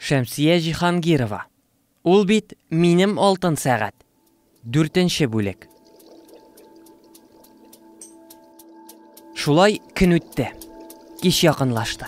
Шәмсия Җиһангирова. Ул бит Минем алтын сәгать. Дүртенче бүлек. Шулай көн үтте. Кич якынлашты.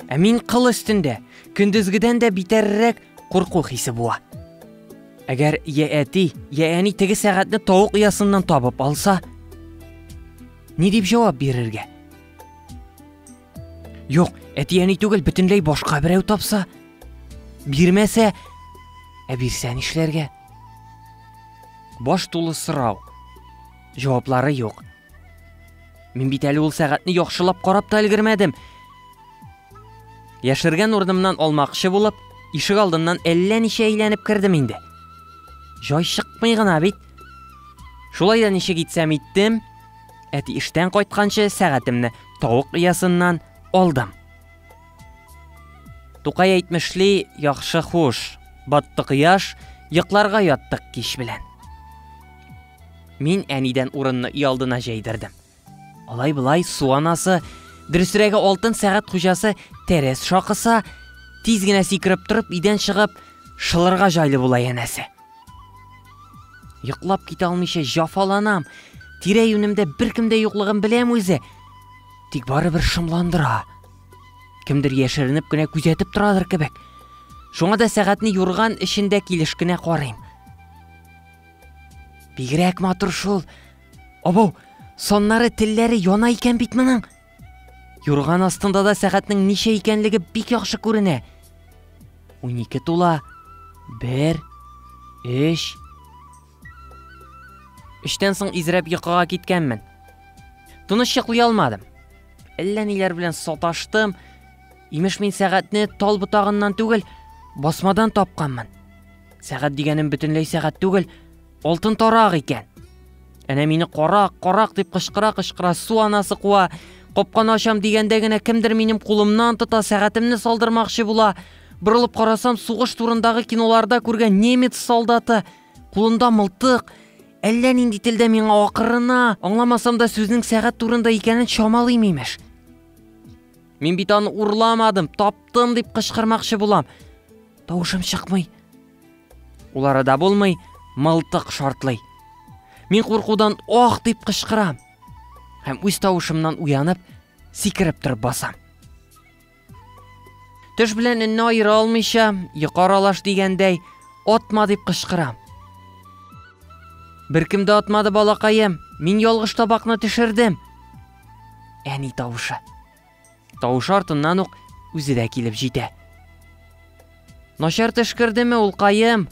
Ә мин кыл өстендә, көндезгедән дә битәррәк курку хисе буа. Әгәр я әти, я әни теге сәгатьне тавык оясыннан табып алса, ни дип җавап бирергә? Юк, әти-әни түгел, бөтенләй башка берәү тапса. Бирмәсә, ә бирсә нишләргә? Баш тулы сорау. Җаваплары юк. Мин бит әле ул сәгатьне яхшылап карап та өлгермәдем. Яшергән урынымнан алмакчы булып, ишек алдыннан әллә ничә әйләнеп кердем инде. Җай чыкмый гына бит. Шулай да ничек итсәм иттем, Әти эштән кайтканчы сәгатемне тавык иясыннан алдым. Тукай әйтмешли, яхшы хуш, батты кояш, йокларга яттык кич белән. Мин әнидән урынны өй алдына җәйдердем. Алай былай су анасы, дөресрәге алтын сәгат хуҗасы тәрәз шакыса, тиз генә сикереп торып идән чыгып, шылырга җайлы була янәсе. Йоклап китә алмыйча җафаланам. Тирә-юнемдә беркем дә юклыгын беләм үзе. Тик барыбер шомландыра. Кемдер яшеренеп кенә күзәтеп торадыр кебек. Шуңа да сәгатьне юрган эчендә килеш кенә карыйм. Бигрәк матур шул. Абау, соннары телләре яна икән бит моның. Юрган астында да сәгатьнең ничә икәнлеге бик яхшы күренә. Унике тула. Бер, өч. Эштән соң изрәп йокыга киткәнмен. Тыныч йоклый алмадым. Әллә ниләр белән саташтым. Имеш мин сәгатьне тал ботагыннан түгел, басмадан тапканмын. Сәгать дигәнем бөтенләй сәгать түгел, Алтын тарак икән. Әнә мине карак, карак дип кычкыра-кычкыра су анасы куа. Капканы ачам дигәндә генә кемдер минем кулымнан тота, сәгатемне салдырмакчы була. Борылып карасам, сугыш турындагы киноларда күргән немец солдаты. Кулында мылтык. Әллә нинди телдә миңа акырына, аңламасам да сүзнең сәгать турында икәнен чамалыйм имеш. Мин бит аны урламадым, таптым дип кычкырмакчы булам. Тавышым чыкмый. Ул арада булмый, мылтык шартлый. Мин куркудан ох дип кычкырам. Һәм үз тавышымнан уянып, сикереп торып басам. Төш белән өнне аера алмыйча, йокы аралаш дигәндәй, атма дип кычкырам. Беркем дә атмады балакаем, мин ялгыш табакны төшердем. Әни тавышы. Тавышы артыннан ук үзе дә килеп җитә. Начар төш кердеме, улкаем?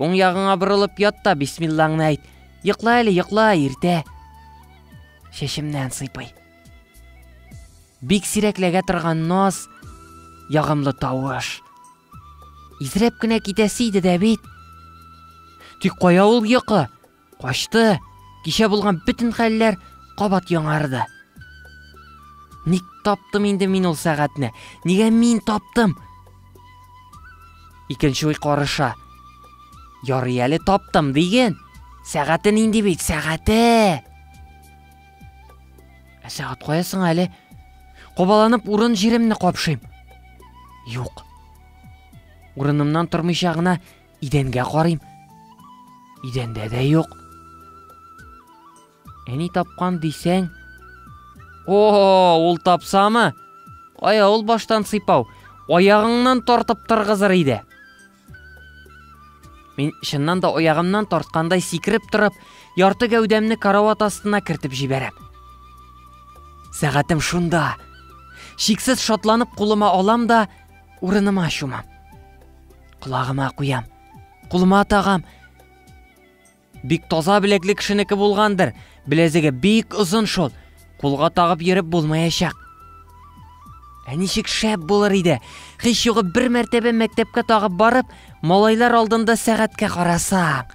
Уң ягыңа борылып ят та бисмиллаңны әйт. Йокла әле, йокла, иртә. Шешемнән сыйпый. Бик сирәкләгә торган наз, ягымлы тавыш. Изрәп кенә китәсе иде дә бит. Тик кая ул йокы? Качты. Кичә булган бөтен хәлләр кабат яңарды. Ник таптым инде мин ул сәгатьне? Нигә мин таптым? Икенче уй карыша. Ярый әле таптым диген. Сәгате нинди бит, сәгате! Ә сәгать кая соң әле? Кобаланып урын җиремне капшыйм. Юк. Урынымнан тормыйча гына Идәнгә карыйм. Идәндә дә юк. Әни тапкан дисәң. О, ул тапсамы? Ая ул баштан сыйпау. Аягыңнан тартып тыргызыр иде. Мин чыннан да аягымнан тарткандай сикереп торып, ярты гәүдәмне карават астына кертеп җибәрәм. Сәгатем шунда. Шиксез шатланып кулыма алам да, урыныма чумам. Колагыма куям. Кулыма тагам. Бик таза беләкле кешенеке булгандыр. Беләзеге бик озын шул. Кулга тагып йөреп булмаячак. Ә ничек шәп булыр иде. Хич югы бер мәртәбә мәктәпкә тагып барып, малайлар алдында сәгатькә карасаң.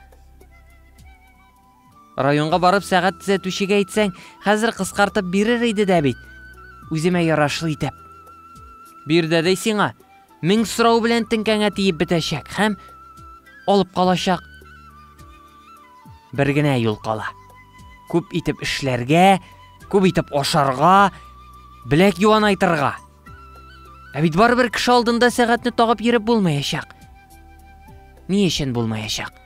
Районга барып сәгать төзәтүчегә әйтсәң, хәзер кыскартып бирер иде дә бит. Үземә ярашлы итеп. Бир дә дәй сиңа. Мең сорау белән теңкәңә тиеп бетәчәк һәм алып калачак. Бер генә юл кала. Күп итеп эшләргә, күп итеп ашарга, беләк юанайтырга. Ә бит барыбер кеше алдында сәгатьне тагып йөреп булмаячак. Ни өчен булмаячак?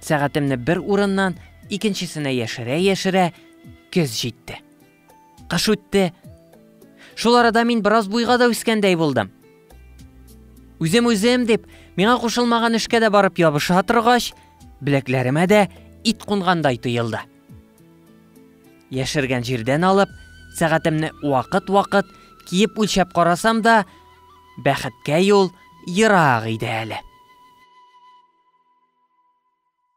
Сәгатемне бер урыннан икенчесенә яшерә-яшерә көз җитте. Кыш үтте. Шул арада мин бераз буйга да үскәндәй булдым. Үзем-үзем дип, миңа кушылмаган эшкә дә барып ябыша торгач, беләкләремә дә ит кунгандай тоелды. Яшергән җирдән алып, сәгатемне вакыт-вакыт киеп үлчәп карасам да, Бәхеткә юл ерак иде әле.